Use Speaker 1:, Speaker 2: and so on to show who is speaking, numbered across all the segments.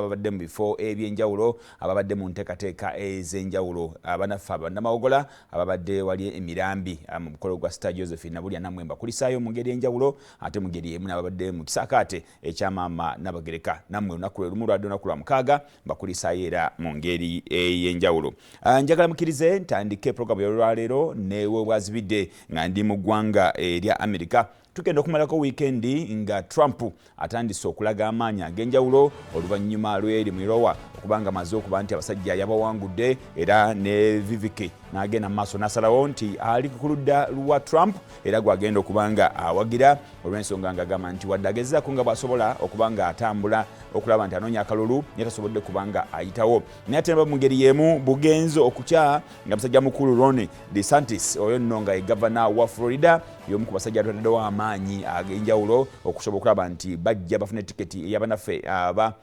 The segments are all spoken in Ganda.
Speaker 1: ababadde mu bifo eby'enjawulo ababadde mu nteekateeka ez'enjawulo abanaffe abannamawogola ababadde wali emirambi ah, mu mukolo gwa sita josephine nabulya namwe mbakulisaayo mu ngeri enjawulo ate mu ngeri emu nababadde mu kisaakaate ekya maama nabagereka namwe olunaku lwe lumu lwadde olunaku lwa mukaaga mbakulisaayo era mu ngeri ey'enjawulo ah, njagala mukirize ntandike programu yolwaleero newe bwazibidde nga ndi mu ggwanga erya amerika tugenda okumalako wiikendi nga trump atandise okulaga amaanyi ag'enjawulo oluvannyuma lw'eri mu irowa okubanga amaze okuba nti abasajja yabawangudde era ne viviki n'agenda mu maaso n'asalawo nti ali ku ludda lwa trump era gw'agenda okuba nga awagira olw'ensonga ng'agamba nti wadde agezaako nga bw'asobola okuba nga atambula okulaba nti anoonya akalulu naye tasobodde kuba nga ayitawo naye ate naba mu ngeri y'emu bugenze okukya nga musajja mukulu rone DeSantis oyo nno nga ye gavana wa Florida y'omu ku basajja abataddewo amaanyi ag'enjawulo okusobola okulaba nti bajja bafune tiketi eyabanaffe aba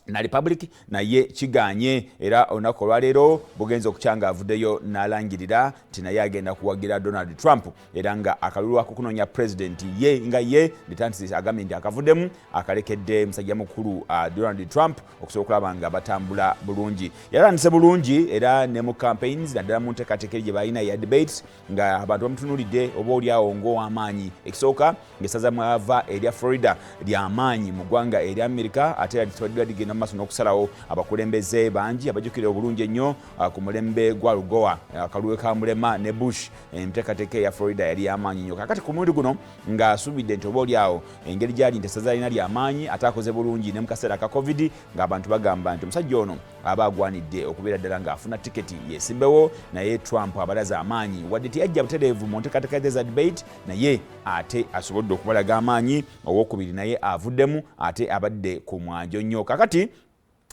Speaker 1: na republic naye kiganye era olunaku olwaleero bugenza okukya nga avuddeyo n'alangirira nti naye agenda kuwagira donald trump era nga akalulu akokunoonya pulezidenti ye nga ye detantis agambye nti akavuddemu akalekedde musajja mukulu uh, donald trump okusobola okulaba nga batambula bulungi yalandise bulungi era ne mu campaigns naddala mu nteekateeka eri gye balina ya debates nga abantu bamutunuulidde oba oli awo ng'ow'amaanyi ekisooka ng'essaza mwava erya florida ly'amaanyi mu ggwanga erya amerika ate era likibaddira ligenda mu maaso n'okusalawo abakulembeze bangi abajjukira obulungi ennyo ah, ku mulembe gwa lugowa akaluwe ka mulema ne bush enteekateeka eya florida yali y'amaanyi nnyo kakati ku mulundi guno nga asubidde nti oba oli awo engeri gyali nti essaza lina lyamaanyi ate akoze bulungi ne mu kaseera ka covid ng'abantu bagamba nti omusajja ono aba agwanidde okubeera ddala ng'afuna tiketi yeesimbewo naye trump abalaze amaanyi wadde teyajja butereevu mu nteekateeka ze za debate naye ate asobodde okubalaga amaanyi owokubiri naye avuddemu ate abadde ku mwanjo nnyo kakati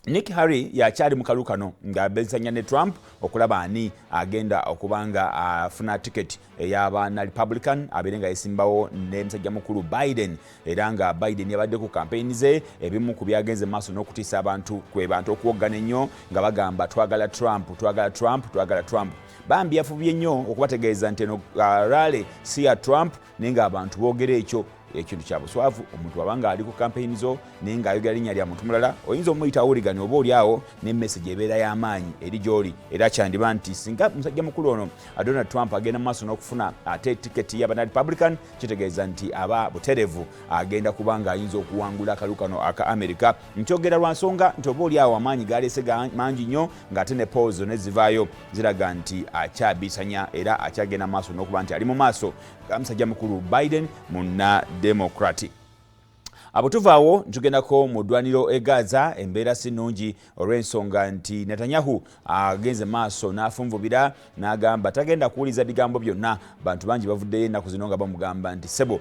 Speaker 1: Nick Harry yakyali mu kalu kano nga bezanya ne Trump okulaba ani agenda okuba nga afuna tiketi ey'abaana Republican abeere nga yesimbawo ne musajja mukulu Biden era nga Biden yabadde ku kampeyini ze ebimu ku byagenze mu maaso n'okutiisa abantu kwe bantu okuwoggana ennyo nga bagamba twagala Trump twagala Trump twagala Trump bambi yafubye nnyo okubategeeza nti eno uh, rale si ya Trump naye ng'abantu boogera ekyo ekintu kya buswavu omuntu aba ng'ali ku kampeyini zo naye ng'ayogera linnya lya muntu mulala oyinza omuyita awuligani oba oli awo ne message ebeera y'amaanyi eri gy'oli era kyandiba nti singa musajja mukulu ono donald trump agenda mu maaso n'okufuna ate tiketi y'abana republican kitegeeza nti aba buterevu agenda kuba ng'ayinza okuwangula akalu kano aka amerika nkyogera lwa nsonga nti oba oli awo amaanyi galeese mangi nnyo ng'ate ne polls zonna ezivaayo ziraga nti akyabiisanya era akyagenda maaso n'okuba nti ali mu maaso ga musajja mukulu biden munna democratic abo tuvaawo ntugendako mu ddwaniro e gaza embeera si nnungi olw'ensonga nti netanyahu agenze maaso n'afunvubira n'agamba tagenda kuwuliza bigambo byonna bantu bangi bavuddeyo ennaku zino nga bamugamba nti sebo